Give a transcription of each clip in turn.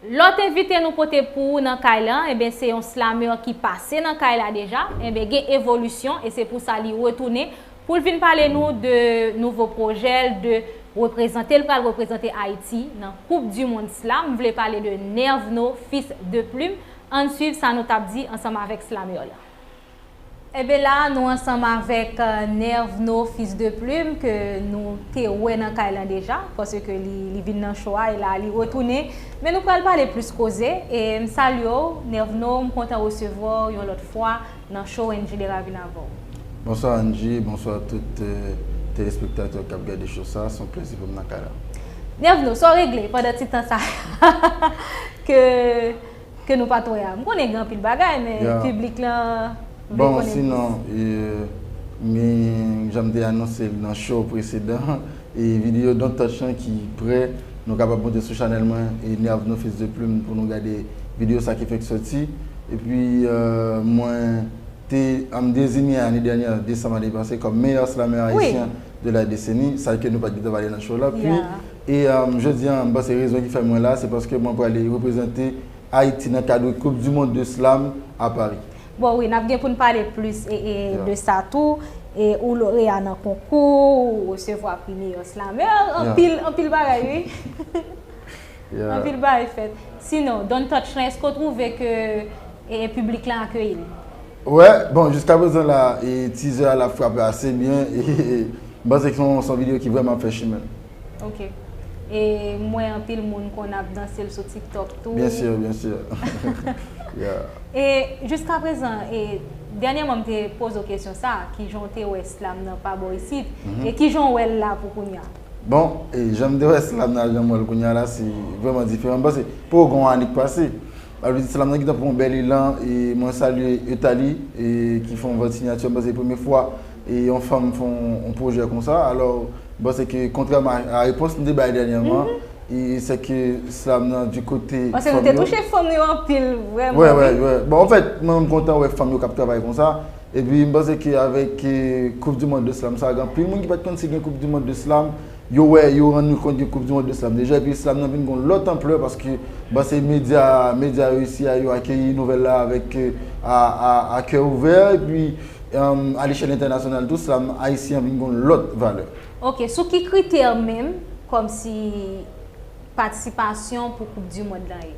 Lòt envite nou pote pou ou nan kay la, enben se yon slameur ki pase nan kay la deja, enben gen evolisyon e se pou sa li retounen pou l vin pale nou de nouvo pwojè l, de reprezante l pral reprezante Ayiti nan koup di mond slam, m vle pale de Nervno fils de plume, ann swiv sa nou t ap di ansanm avèk slameur la. Enben la a nou ansanm avèk Nervno fils de plume ke nou te wè nan kay lan deja paske li vin nan show a e la a li retounen men nou pral pale plis koze e m salye w Nervno m kontan resevwa w yon lòt fwa nan show NJ Lera vin avè w. Bonswa NJ, bonswa tout telespektatè kap gade show sa a, s on plezi pou m nan kay la. Nervno, sa w regle pandan ti tan sa a ke. Ke nou pat wè a. M konnen gen anpil bagay men piblik lan vle konnen plis. Bon sinon m gen jan m te anonse l nan show presedan an e videyo Don't Touch lan ki prè nou kapab monte sou chanèl mwen e Nervno Fils de Plume pou nou gade videyo sa ki fenk soti. Epi mwen te m dezinye ane dènyè desanm ane pase kòm meyè slamè ayisyen de la deseni sa ke nou pat gentan pale nan show lan. E jodi an, m panse rezon ki fè mwen la, se paske mwen prale reprezante Ayiti nan kadre koup di mond de slam a Pari. Bon wi, n ap gen pou n pale plis de sa tou. Ou loreya nan konkou, ou resevwa pri meyò slamè, anpil bagay wi. Anpil bagay fèt. Sinon, Don Touch lan, èske ou twouve ke piblik lan akeyi l? Wè bon jiska prezan la tizè a la frape ase byen m panse ke se yon video ki vreman ap fè chimen. Ok e m wè anpil moun konn ap danse l sou tiktok tou. Byen sur byen sur yeah. E jiska prezan e dènyèman m te poze w kesyon sa kijan w te wè slam nan pa bò isit e kijan w wè l la pou kounya. Bon e janm te wè slam nan ak janm wè l kounya la se vreman diferan m panse poko gen yon ane k pase. Map di salam nan gentan pran yon bèl elan e mwen salye Euthalie e ki fè yon vant sinyati an panse premye fwa e yon fanm fè yon pwojè konsa alò m panse ke kontrèman a repons nou te bay dènyèman e se ke slam nan di kote fanm yo. Panse nou te touche fanm yo anpil vrèman wi. Wè wè wè bon an fèt mwen menm m kontan wè fanm yo kap travay konsa epi m panse ke avèk koup di mond de slam sa gen anpil moun ki pat konn si gen koup di mond de slam Yo wè, yo rann yo kont gen koup di mond islam deja epi islam nan vin gen yon lòt anplè paske m panse medya medya yo isi a yo akeyi nouvèl la avèk a kè ouvè epi a lechèl entènasyonal tou islam ayisyen an vin gen yon lòt valè. Ok, sou ki kritè menm kòmsi. patisipasyon pou koup du mond lan ye?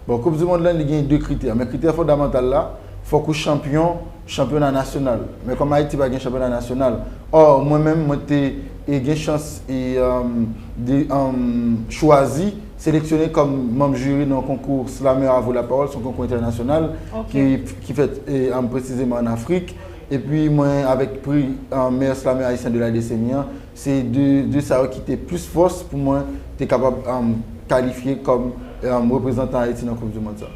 Bon koup du mond lan li gen 2 kritè men kritè fondamantal la fòk ou chanpyon chanpyona nasyonal men kòm Ayiti pa gen chanpyona nasyonal or mwen menm mwen te gen chans chwazi seleksyone kòm manm juri nan konkou Slameur à vous la parole son konkou entènasyonal ki fèt presizeman an Afrik epi mwen avèk pri meyè Slameur Ayisyen de la deseni an Se de sa yo ki te plis fòs pou mwen te kapab kalifye kòm reprezantan Ayiti nan koup di mond sa.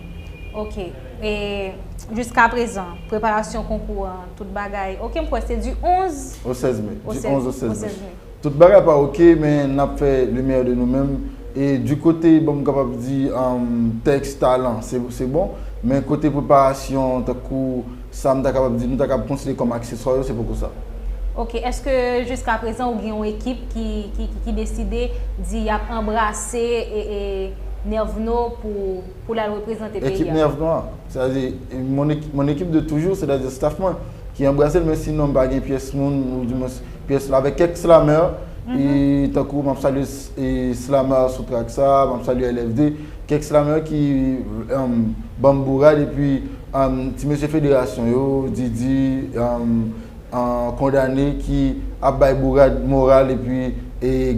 Ok, e jiska prezan preparasyon konkou an tout bagay ok m kwè se di 11 o 16 me, di 11 o 16 me tout bagay pa ok men n ap fè le meyè de nou menm e di kote bon m kapab di tèks talan se bon men kote preparasyon tankou Sa m ta kapab di, nou ta kapab konsidere kòm akseswa yo, se poko sa. Ok, èske jiskaprezan ou gen yon ekip ki deside di y ap anbrase Nervno pou l al reprezante peyi a? Ekip Nervno a? Sètadi, mon équipe de toujours, sètadi staff mwen, ki anbrase l men sinon m pa gen pyès moun, ou di mwens pyès l avèk kèk slameur, tankou m ap salye slameur sou track sa, m ap salye LFD, kèk slameur ki ban m bourad epi. Ti mesye federasyon yo, Didi, kondane ki ap bay bourad moral epi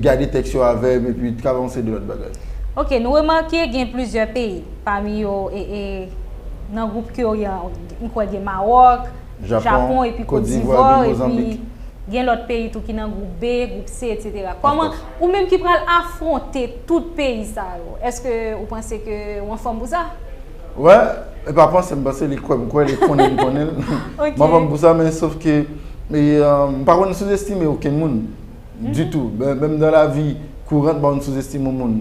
gade tèks yo avèg epi travanse de lòt bagay. Ok, nou remake gen plizyè peyi, pami yo nan gwoup Q an, m kwè gen Mawòk, Japon epi Kotdivwa epi gen lòt peyi tou ki nan gwoup B, gwoup C etc. Kòman, ou menm ki pral afwonte tout peyi sa yo, èske ou panse ke ou anfòm pou sa? Wè, e pa panse m panse li kwè m kwè li konnen m konnen l. M pa panse pou sa men sof ke m pa konn souzestime okenn moun ditou. Menm nan lavi kourant m pa konn souzestime yon moun.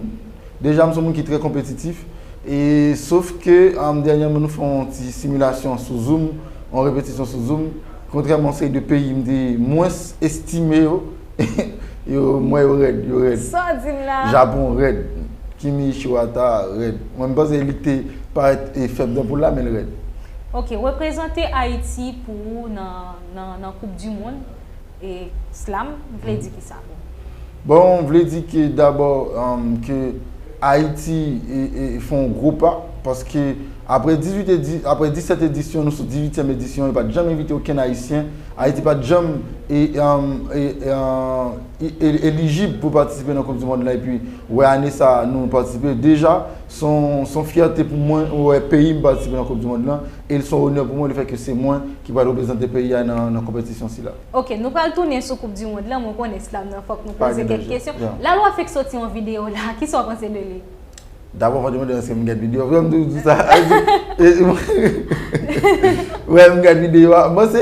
Deja m son moun ki trè konpetitif e sof ke dènyèman nou fè yon ti similasyon sou zoom, yon repetisyon sou zoom, kontrèman yon seri de peyi m te mwens estime yo. Yo mwen yo rèd yo rèd. Saw dim la. Japon rèd. Kimi Ichiwata rèd. Mwen m panse li te parèt fèb nan poul la menl rèd. Ok reprezante ayiti pou ou nan koup di mond e slam vle di kisa pou ou? Bon vle di ke dabò ke ayiti fè yon gwo pa paske aprè 18 aprè 17 edisyon nou sou 18 edisyon yo pat janm envite okenn ayisyen Ayiti pa t janm elijib pou patisipe nan koup di mond lan epi wè ane sa nou patisipe deja son fyète pou mwen wè peyi m patisipe nan koup di mond lan e son onè pou mwen le fèt ke se mwen ki pral reprezante peyi a nan konpetisyon sila. Ok nou pral tounen sou koup di mond lan mwen konnen slam nan fòk nou poze kèk kesyon. Lalwa fèk sòti yon videyo la kisa w panse de li? Dabò fòk yo mande èske m gad videyo a. M toujou di sa. Wè m gad videyo a. Bon se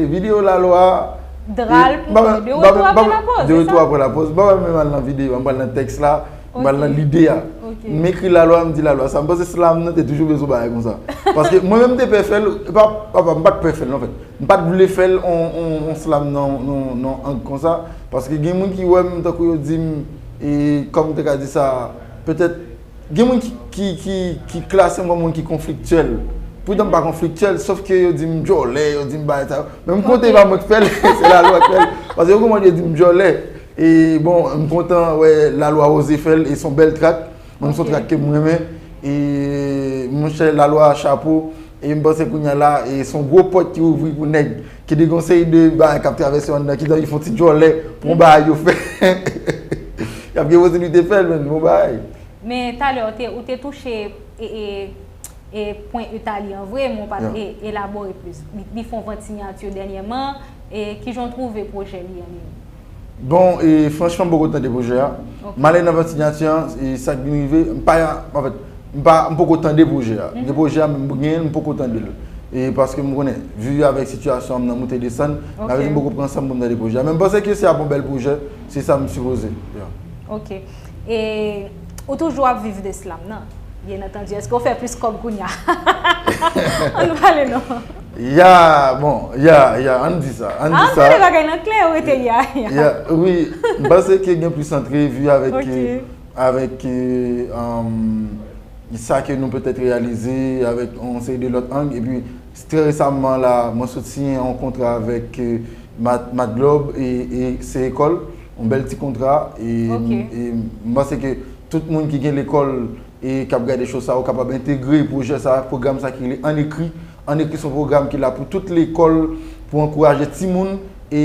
videyo lalwa. Dra l pou nou. De retou apre lapoz. De retou apre lapoz. M pa pral menm al nan videyo a. M pral nan tèks la. M pral nan lide a. M ekri lalwa m di lalwa sa. M panse slam nan te toujou bezwen bagay konsa. Paske mwen menm m te pè fè l. E pa m pa t pè fè l non fèt. M pa t vle fè l yon slam nan ang konsa. Paske gen moun ki wè m tankou yo di m. E kòm m te ka di sa, petèt gen moun ki klase m kòm moun ki konfliktyèl. Poutan m pa konfliktyèl, sof ke yo di m djòlè, yo di m bagay sa yo. Men m kontan e pa mwen ki fè l, se lalwa ki fè l. Paske yo konprann yo di m djòlè. E bon, m kontan wè lalwa oze fè l e s on bèl trak. Menm s on trak ke m renmen. E monchè lalwa chapo. E m panse kounya la e son gwo pòt ki ouvri pou nèg ki de gon seri de bagay kap travèse yo anndan ki t anvi fon ti djòlè pou yon bagay yo fè yap gen posiblite fèl menn bon bagay. Men talè ou te ou te touche e e e pwen Utali an vre men w pat e elabore plis li fon vant sinyati yo dènyèman e kijan w twouve pwojè li an menm? Bon e franchman m poko tande pwojè a. M ale nan vantilatè an e sa k vin rive, m pa anfèt m pa m poko tande pwojè a. Gen pwojè a menm gen l m poko tande l e paske m konnen vi avèk sitiyasyon m nan moute desann m ta rete m poko pran san m pou m tande pwojè a men m panse ke se ap yon bèl pwojè se sa m sipoze. Ok. E ou toujou ap viv de slam nan? Byen antandu, eske ou fè plis kòb kounya? An nou pale non. Ya, bon, ya, ya, an di sa, an di sa. An pale bagay nan klè, ou rete ya, ya. Ya, wi, m panse ke gen plis antrevi avèk ke, avèk ke, sa ke nou petèt reyalize avèk yon seri de lòt ang, epi. Trè resamman la, mwen sot siyen yon kontra avèk Matglob e Ceecol, yon bèl ti kontra e m panse ke tout moun ki gen lekòl e k ap gade cho sa yo kapab entegre pwojè sa, pwogram sa ki rele An Ekri. An Ekri se yon pwogram ki la pou tout lekòl pou ankouraje timoun e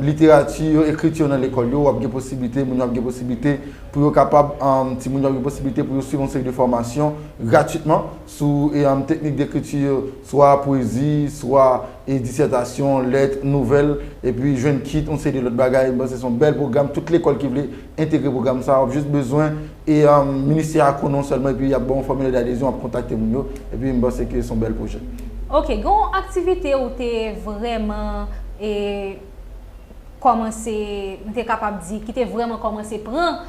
literati yo, ekriti yo nan lekòl yo. W ap gen posiblite, moun yo ap gen posiblite pou yo kapab, timoun yo ap gen posiblite pou yo swiv yon seri de fòmasyon gratitman. sou teknik dekriti yo, swa pwezi, swa disètasyon, lèt, nouvèl, epi jwenn kit yon seri de lòt bagay. M panse se yon bèl pwogram. Tout lekòl ki vle entegre pwogram sa a, w ap jis bezwen ministè a konnen w sèlman epi y ap ba w yon fòmilè dadezyon, w ap kontakte moun yo. Epi m panse ke se yon bèl pwojè. Ok, gen yon aktivite ou te vrèman kòmanse, m te kapab di, ki te vrèman kòmanse pran.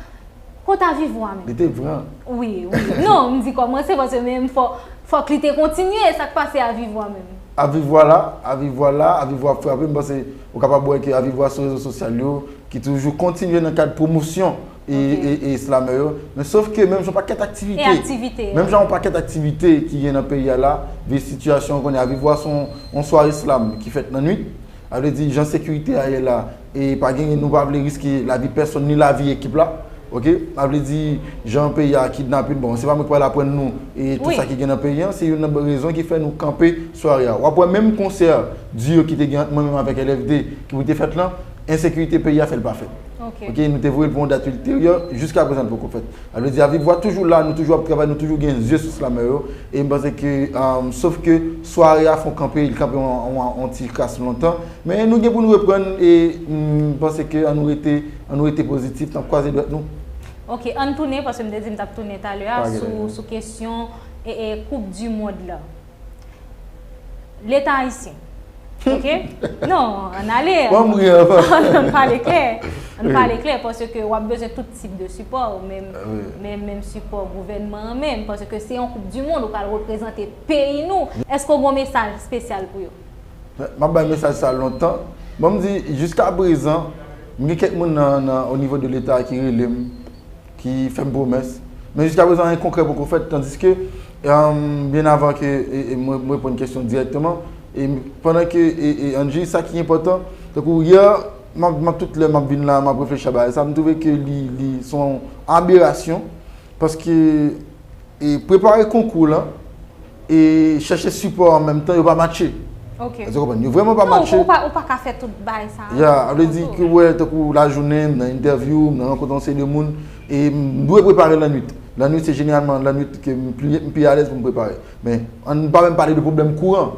Kot avi vwa menm? Li te pran. Wi, wi. Non, m di kòmanse paske menm fò, fòk li te kontinye. Sa k pase avi vwa menm? Avi vwa la, avi vwa la, avi vwa ap frape. M panse ou kapab wè ke avi vwa sou rezo sosyal yo ki toujou kontinye nan kad pwomosyon e, e, e slamè yo. Men sof ke menm jan pakèt aktivite. E aktivite. Menm jan yon pakèt aktivite ki gen nan peyi a la, vi sitiyasyon kounye a. Avi vwa se yon, yon sware slam ki fèt nan nwit. A vle di jan sekirite a ye la. E pa genyen nou pa vle riske lavi pèsonn ni lavi ekip la ok sa vle di jan peyi a kidnapin bon se pa mwen ki pral aprann nou tout sa ki gen nan peyi an se youn nan rezon ki fè nou kanpe sware a wap wè menm konsè duo ki te gen ant mwen menm avèk LFD ki pou te fèt lan ensekirite peyi a fèl pa fèt ok nou te voyel pou yon dat ilteryè jiska prezan li poko fèt sa vle di a viv vwa toujou la nou toujou ap travay nou toujou gen zye sou slamè yo e m panse ke sof ke sware a fon kanpe li kanpe yon ti kras lontan. Men nou gen pou nou reprann e m panse ke an nou rete an nou rete pozitif n ap kwaze dwèt nou. Ok ann tounen paske m te di m t ap tounen talè a sou kesyon koup di mond la. Leta ayisyen ok non ann ale ann pale klè ann pale klè paske w ap bezwen tout tip de sipò men menm sipò gouvènman an menm paske se yon koup di mond ou pral reprezante peyi nou èske w gen yon mesaj espesyal pou yo? Map bay mesaj sa lontan, banm di jiska prezan m gen kèk moun nan o nivo de leta ki relem ki fèm pwomès men jiska prezan anyen konkrè poko fèt tandiske byen avan ke mwen reponn kesyon dirèkteman e pandan ke Angie sa ki enpòtan tankou yè map tout lè map vin la map reflechi a bagay sa m twouve ke li son aberasyon paske e prepare konkou lan e chèche sipò an menm tan yo pa matche. Ok. Èske w konprann? Yo vrèman pa matche. Non, ou pa ka fè tout bagay sa a. Ya, sa vle di ke ou wè tankou lajounen, m nan entèvyou, m nan rankontre yon seri de moun e m dwe prepare lannwit. Lannwit se jeneralman lannwit ke m pi alèz pou m prepare. Men, an n pa menm pale de pwoblèm kouran,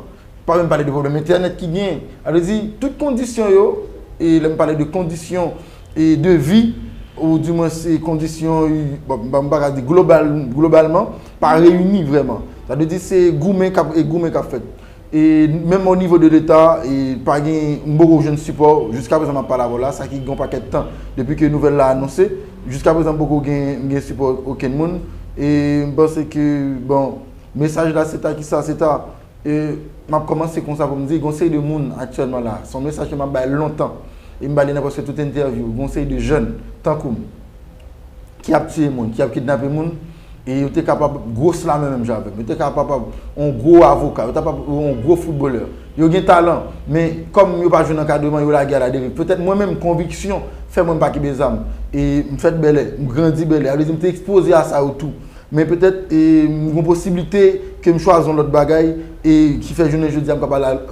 pa menm pale de pwoblèm entènèt ki genyen. Sa vle di, tout kondisyon yo, e lè m pale de kondisyon. devi ou di mwens kondisyon m pa ka di globalman pa reyini vreman sa vle di se goumen k ap fèt e menm o nivo de leta pa gen m poko jwenn sipò jiska prezan m ap pale avè w la sa ki gen yon pakèt tan depi ke nouvèl la anonse jiska prezan m poko gen sipò okenn moun e m panse ke bon mesaj la se ta ki sa se ta E m ap kòmanse konsa pou m di gen yon seri de moun aktyèlman la, se yon mesaj ke m ap bay lontan, e m bay li nan prèske tout entèvyou, gen yon seri de jèn tankou m ki ap tiye moun, ki ap kidnape moun, e yo te kapab gwos lame menm jan avè m, yo te kapab yon gwo avoka, yo te kapab yon gwo foutbolè, yo gen talan, men kòm yo pa jwenn ankadreman, yo lage aladeriv. Petèt mwen menm konviksyon fè mwen m pa kenbe zam, e m fèt Bèlè, m grandi Bèlè, sa vle di m te ekspoze a sa yo tou. Men petèt m gon posiblite ke m chwazi yon lòt bagay e ki fè jounen jodi a m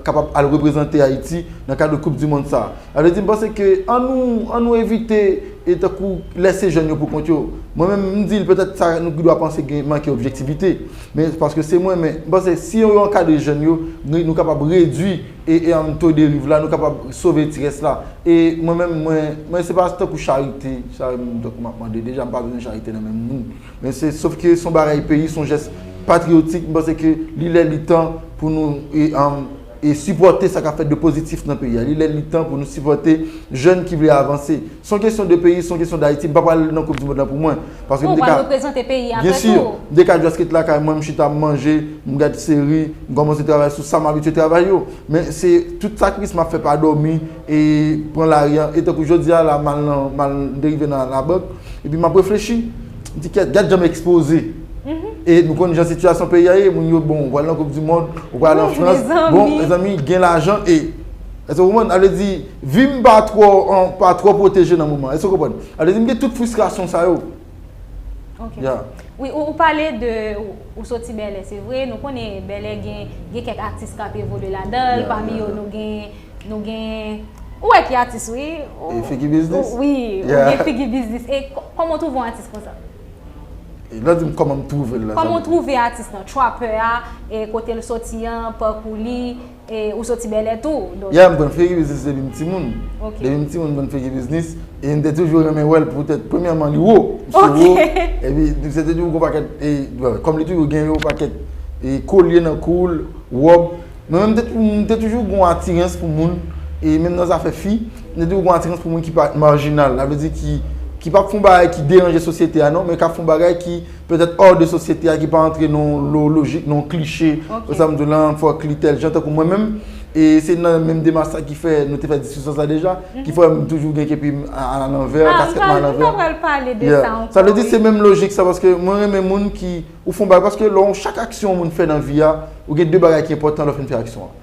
kapab al reprezante Ayiti nan kad de koup di mond sa. Sa vle di m panse ke an nou an nou evite e tankou lèse jèn yo pou kont yo. Mwen menm m di l petèt sa nou pi dwa panse gen manke objektivite. Men paske se mwen men m panse si yo ankadre jèn yo nou kapab redwi E en to deriv la nou kapab sove ti rès la. E mwen menm mwen, mwen se pa tankou charite, sa m tankou m ap mande, deja m pa bezwen charite nan men moun. Men se sof ke son bagay peyi, son jès patriyotik, m panse ke li lè li tan pou nou e en e sipòte sa k ap fèt de pozitif nan peyi a. Li lè li tan pou nou sipòte jèn ki vle avanse. Se yon kesyon de peyi, se yon kesyon Dayiti. M pa pral nan koup di mond la pou mwen. Paske m te ka. Bon, ou pral reprezante peyi a apre tou. Byensi. M te ka just ret lakay mwen, m chita, m manje, m gad seri, m kòmanse travay sou sa m abitye travay yo. Men se tout sakrifis m ap fè pa dòmi e pran lari a. E tankou jodi a la, m al nan, m al, m te rive nan labank. Epi m ap reflechi. M di kèt, gad jan m ekspoze. E nou konn jan sitiyasyon peyi a ye. Moun yo, bon, ou pral nan koup di mond, ou pral al an Frans. Bon, mezanmi, gen lajan e. Èske w konprann? Sa vle di, vi m pa twò, pa twò pwoteje nan moman an. Èske w konprann? Sa vle di m gen tout fristrasyon sa yo. Ok. Ya. Wi, ou pale de, ou soti Bèlè, se vre. Nou konnen Bèlè gen, gen kèk atis k ap evolye ladan l, pami yo nou gen, nou gen, ou wè ki atis wi. E Figi Biznis? Wi, ou gen Figi Biznis. E kòman w twouve yon atis konsa? E lè w di m kòman m twouve l la, sa vle di. Kòman w twouve atis lan? Trapper a, e kote l soti an, pakou li, E ou soti bèlè tou donk. Ya m konn fake biznis depi m timoun. Ok. Depi m timoun m konn fake biznis e m te toujou renmen wè l poutèt premyèman li wo. Ok. Misye wo epi misye te toujou gon pakèt e kòm li toujou gen yon pakèt e kolye nan kou l, wòb. Mwen menm m te m te toujou gon atirans pou moun e menm nan zafè fi m te toujou gon atirans pou moun ki pa majinal sa vle di ki ki pap fè yon bagay ki deranje sosyete a non men k ap fè yon bagay ki Petèt hors de sosyete a ki pa antre nan yon lojik, nan yon kliche, wè sa m di w lan, fòk li tèl jan, tankou mwen menm, e se nan menm demach sa ki fè nou te fè diskisyon sa deja, ki fè m toujou gen kepi m alanvè, kaskèt m alanvè. Ah, m ta pral pale de sa ankò wi. Sa vle di se menm lojik sa paske mwen renmen moun ki, ou fè yon bagay, paske lè yon, chak aksyon yon moun fè nan vi a, ou gen 2 bagay ki enpòtan lè w fin fè aksyon an.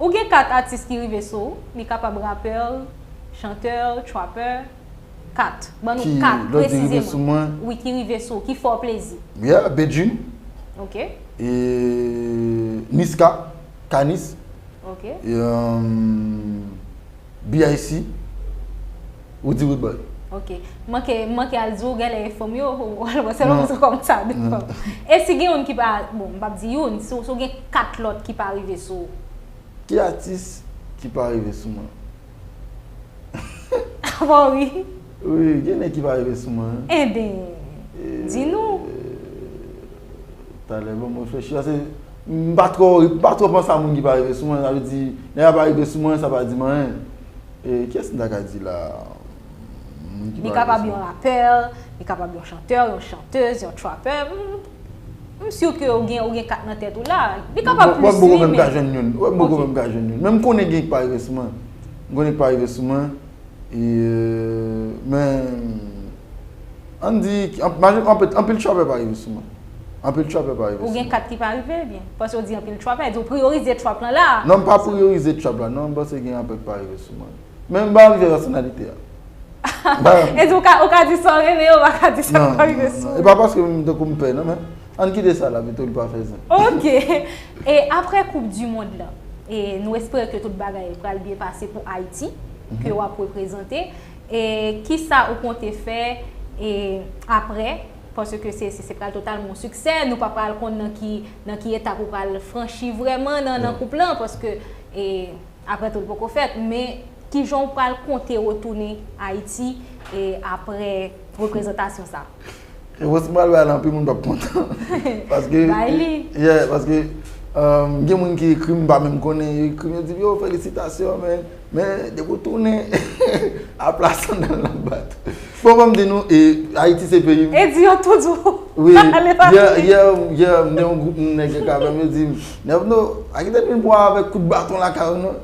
Ou gen 4 atis ki rive sou ou, li kapab rapèl, chantè, trapè, 4. Ban nou 4 presizeman. Wi, ki rive sou ou, ki fè w plezi. Yeah, Bedjine. Ok. E Niska, K-Niss. Ok. E. BIC, Roody Rudebuy. Ok. M manke, m manke al di w genlè enfo m yo, ou al wè selon mwen se kòman sa devan. E si gen youn ki pa, bon, m p ap di youn, si w gen 4 lòt ki pa rive sou ou? Ki atis ki pa rive sou mwen? Ou pa w ri? Wi, gen nèg ki pa rive sou mwen. Enben, di nou. Talè banm reflechi ase m pa twò m pa twò panse a moun ki pa rive sou mwen sa vle di nèg la pa rive sou mwen sa pa di m anyen e kiyès m ta ka di la moun ki pa rive sou mwen. Li kapab yon rapè, li kapab yon chantè, yon chantez, yon trapè m si ke ou gen ou gen 4 nan tèt ou la li kapab plis wi men. Wè m poko kwè m ka jwenn youn wè m poko kwè m ka jwenn youn men m konnen gen ki pa rive sou mwen m konnen ki pa rive sou mwen e men. An di, anpil trapè pa rive sou mwen. Anpil trapè pa rive sou mwen. Ou gen 4 ki pa rive ebyen? Paske ou di anpil trapè, e di ou priyorize trap lan la. Non m pa priyorize trap la non, m panse gen anpil ki pa rive sou mwen. Men m pa anvi fè pèsonalite a. E di ou ka di sa w renmen yo pa ka di sa k pa rive sou ou. E pa paske m tankou m pè non men, ann kite sa la pito li pa fè zen. Ok. E aprè koup di mond lan, e nou espere ke tout bagay pral byen pase pou Ayiti ke w ap reprezante. E kisa ou konte fè e aprè? Paske se se pral totalman yon siksè, nou pa pral konn nan ki nan ki etap ou pral franchi vrèman nan nan koup lan paske e aprè tout poko fèt men kijan ou pral konte retounen Ayiti e aprè reprezantasyon sa? Repons m pral bay la anpil moun pap kontan. Paske Bay li. Yeah, paske gen moun ki ekri m m pa menm konnen, yo ekri m yo di m yo felisitasyon men, men depi w tounen a pla sandal nan bat. Bon fò m di nou e Ayiti se peyi m. E di yo tout jou. Wi, yè m gen yon gwoup moun nèg yo k avè m yo di m, Nevno, pa kite n vin pran w avèk kout baton lakay ou non.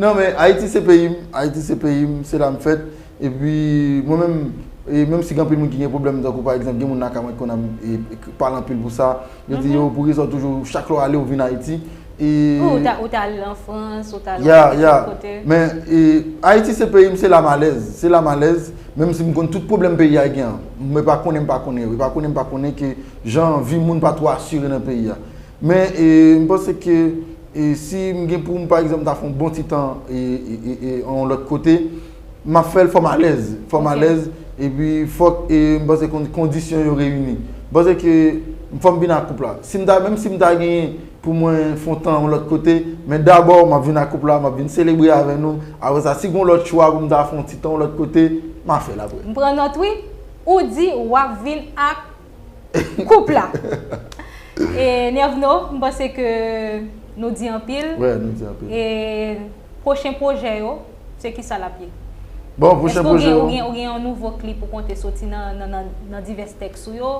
Non men Ayiti se peyi m, Ayiti se peyi m, se la m fèt. Epi mwen menm, e menm si gen anpil moun ki gen pwoblèm tankou pa egzanp gen moun lakay mwen ki konn ap pale anpil pou sa, yo di yo pou rezon toujou chak lè w ale ou vin Ayiti e Ou t al an Frans, ou t al an nenpòt lòt kote. Ya, ya, men e Ayiti se peyi m, se la m alèz, se la m alèz, menm si m konn tout pwoblèm peyi a gen an, men pa konnen m pa konnen yo, e pa konnen m pa konnen ke jan vi moun pa twò asire nan peyi a. Men m panse ke si m gen pou m pa egzanp ta fè yon bon ti tan yon lòt kote, m ap fè l fò m alèz. Fò m alèz e pi fòk m panse kondisyon yo reyini. M panse ke fò m vin ak koup la. Menm si m ta gen pou mwen fè yon tan yon lòt kote, men dabò m ap vin ak koup la, m ap vin selebre avè nou. Apre sa, si gen yon lòt chwa pou m ta fè yon ti tan yon lòt kote, m a fè l apre. M pran nòt wi. Ou di w ap vin ak Koup la. E Nervno, m panse ke nou di anpil. Wè, nou di anpil. E pwochen pwojè yo, se ki sa l ap ye? Bon, pwochen pwojè yo. Èske ou gen yon nouvo klip ou konte soti nan divès tèks ou yo?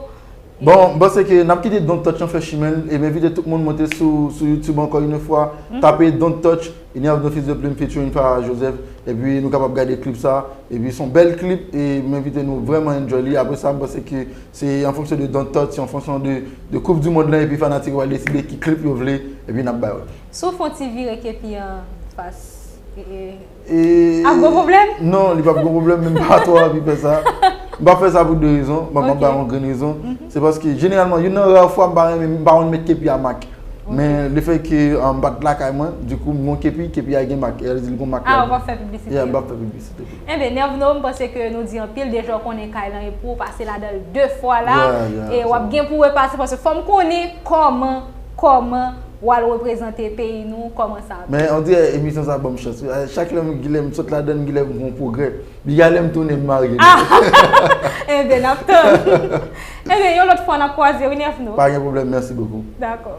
Bon, m panse ke n ap kite Don Touch lan fè chimen l e m envite tout moun monte sou YouTube ankò inè fwa, tape Don Touch. Ignace de fils de plume featuring Farah Joseph epi nou kapab gade klip sa epi son bèl klip e m envite nou vrèman enjoy li apre sa m panse ke se an fonksyon de Don't Touch se an fonksyon de koup du mond lan epi fanatik yo pral deside ki klip yo vle epi n ap bay yo. Si w fè yon ti vire kepi an fas ee ap gon pwoblèm? Non li p ap gon pwoblèm men m pa twò anvi fè sa m p ap fè sa pou 2 rezon m ap bay yon grenn rezon se paske jeneralman youn nan rare fwa m pa renmen m pa renmen met kepi a mak Men le fè ke m pa t lakay mwen, di kou m gen yon kepi, kepi a gen mak. E a di li gen mak la. A ou pa fè piblisite. Ya m pa fè piblisite pou li. Enben Nervno, m panse ke nou di anpil deja ou konnen kay lan e pou ou pase ladan l de fwa la. Ya, ya. E w ap gen pou repase paske fò m konnen kòman, kòman w al reprezante peyi nou, kòman sa ap ye. Men on dirè emisyon sa ban m chans wi. Chak lè m sot ladan l m gen lè m wè yon pwogrè. Li ale m tounen m marye nou. Ah! Enben n ap tann. Enben yon lòt fwa n ap kwaze wi Nerf nou. Pa gen pwoblèm mèsi bokou. Dakò.